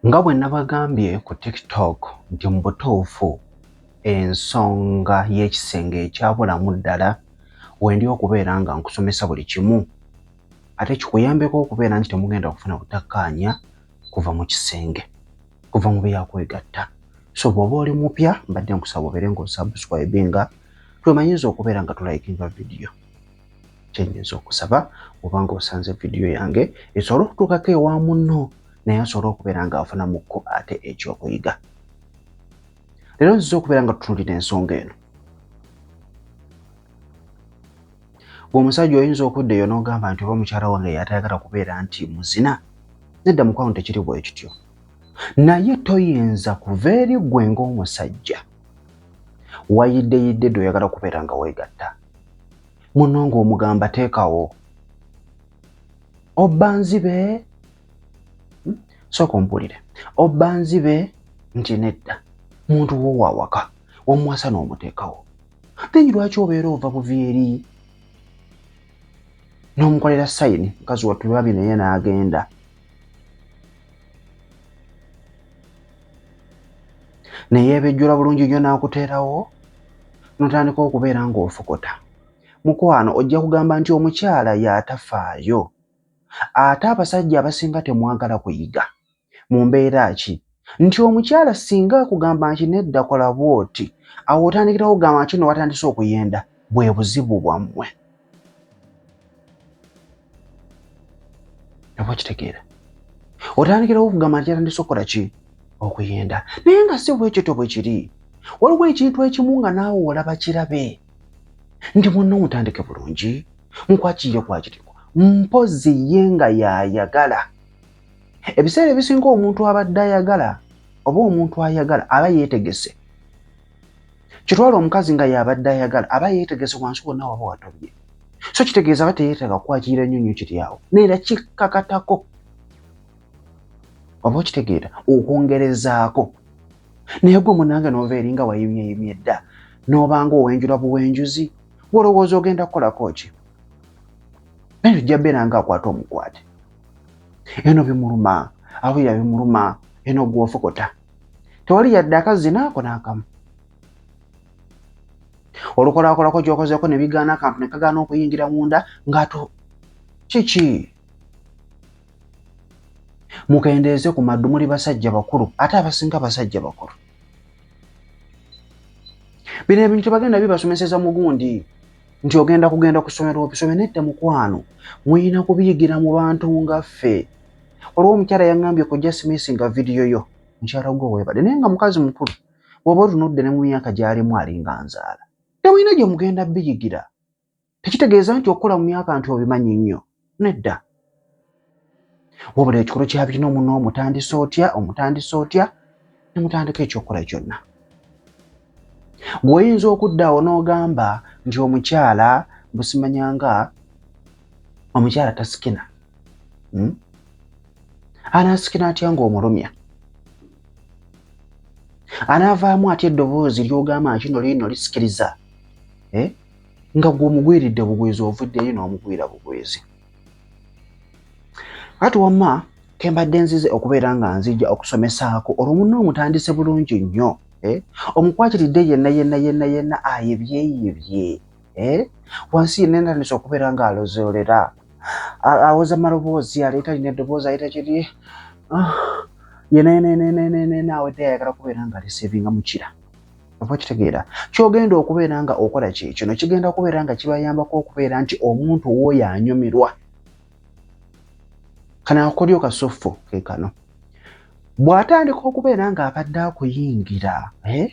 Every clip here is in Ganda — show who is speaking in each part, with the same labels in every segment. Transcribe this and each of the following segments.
Speaker 1: Nga bwe nabagambye ku TikTok nti mu butuufu ensonga y'ekisenge ekyabulamu ddala wendi okubeera nga nkusomesa buli kimu ate kikuyambeko okubeera nti temugenda kufuna butakkaanya kuva mu kisenge. kuva mu byakwegatta so bwoba oli mupya mbadde nkusaba obeere nga osubscribe nga twemanyiza okubeera nga tulayikinga vidiyo kyenyinza okusaba obanga osanze vidiyo yange esobole okutuukako ewa munno naye asobole okubeera nga afunamukko ate ekyokuyiga leero nziza okubeera nga tutunulira ensonga eno omusajja oyinza okudda eyo n'ogamba nti oba mukyala wange yatayagala kubeera nti muzina nedda mukwano tekiri bwe kityo naye toyinza kuva eri ggwe ng'omusajja wayiddeyidde dde oyagala kubeera nga weegatta muno ng'omugamba teekawo obba nzibe hmm? sooka ompulire obba nzibe nti nedda muntu wo waawaka wamuwasa n'omuteekawo Apenyi lwaki obeera ova buvi eri n'omukolera sayidi mukazi wattu lwabi naye n'agenda ne yeebejjula bulungi nnyo n'akuteerawo n'otandika okubeera ng'ofokota mukwano ojja kugamba nti omukyala y'atafaayo ate abasajja abasinga temwagala kuyiga mu mbeera ki nti omukyala singa akugamba nti nedda kola bwoti awo otandikira kugamba nti no watandise okuyenda bwe buzibu bwammwe oba kitegeera otandikirawo okugamba nti yatandise okukola ki okuyenda naye nga si bwekito bwe kiri waliwo ekintu ekimu nga naawe olaba kirabe nti munno mutandike bulungi nkwakirire kwakiriko mpozi ye nga yayagala ebiseera ebisinga omuntu abadde ayagala oba omuntu ayagala aba yeetegese kitwala omukazi nga yabadde ayagala aba yeetegese wansi wonna waba watobye so kitegeeza aba teyeetaaga kukwakirira nnyo nnyo kiri awo neera kikkakatako oba okitegeera okwongerezaako naye gwe munange noova eringa wayimyeyimye dda n'obanga owenjula buwenjuzi wolowooza ogenda kukolako ki naye ojja beera nga akwata omukwate eno bimuluma awulira bimuluma eno gwofokota tewali yadde akazina ako n'akamu olukolakolako gyokozeeko ne bigaana akantu ne kagaana okuyingira munda ng'ato kiki mukendeeze ku maddu muli basajja bakulu ate abasinga basajja bakulu bino ebintu bagenda bibasomeseza mugundi nti ogenda kugenda ku ssomero obisome nedda mukwano muyina kubiyigira mu bantu nga ffe olwo omukyala yaŋambye ku jasmisi nga vidiyo yo mukyala gwe webade naye nga mukazi mukulu bwoba otunudde ne mu myaka gyalimu alinga nzaala temulina gye mugenda biyigira tekitegeeza nti okukola mu myaka nti obimanyi nnyo nedda wabula ekikolo kya bino muno omutandisa otya omutandisa otya ne mutandika ekyokukola kyonna gweoyinza okudda awo n'ogamba nti omukyala busimanyanga omukyala tasikina hmm? anaasikina atya ng'omulumya anaavaamu atya eddoboozi ly'ogamba nti no liino lisikiriza eh? nga gw'omugwiridde bugwizi ovuddeyo n'omugwira bugwizi ati wamma ke mbadde nzize okubeera nga nzija okusomesaako olwo munna omutandise bulungi nnyo eh? omukwatiridde yenna yenna yenna yenna ayebyeyebye eh? wansi yenna entandise okubeera nga alozoolera awoza maloboozi aleeta lina eddoboozi ayita kiri ah, yenna yenna yenna yenna yenna awedde ayagala kubeera nga alisevinga mukira oba kitegeera kyogenda okubeera nga okola kye kino kigenda kubeera nga kibayambako okubeera nti omuntu wooyo anyumirwa kano akakodyo kasuffu ke kano bw'atandika okubeera ng'abadde akuyingira eh?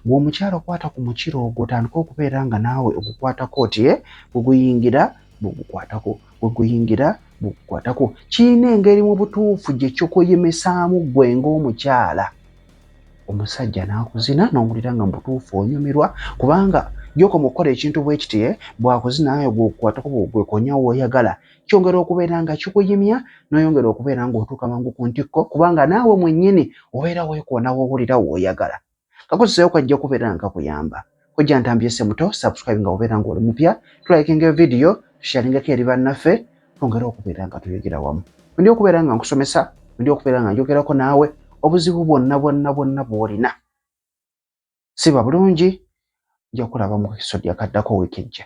Speaker 1: ng'omukyalo kwata ku mukiro ogwo otandika okubeera nga naawe ogukwatako oti eh? gweguyingira bwegukwatako gweguyingira bwegukwatako kirina engeri mu butuufu gye kikuyimisaamu ggwe ng'omukyala omusajja n'akuzina n'owulira nga mubutuufu onyumirwa kubanga gyokoma okukola ekintu bwe kiti eh, bw'akuzina nawe gw'okukwatako bw'ogwekonya w'oyagala kyongera okubeera nga kikuyimya n'oyongera okubeera ng'otuuka mangu ku ntikko kubanga naawe mwennyini obeera weekoona w'owulira w'oyagala kakuziseeyo kajja kubeera nga kakuyamba. kojja ntambi ese muto subscribe nga obeera ng'oli mupya tulayikinga evidiyo tusharingako eri bannaffe twongere okubeera nga tuyogera wamu ndi okubeera nga nkusomesa ndi okubeera nga njogerako naawe obuzibu bwonna bwonna bwonna bwolina siba bulungi nja kulaba mu kisodi akaddako wiiki ejja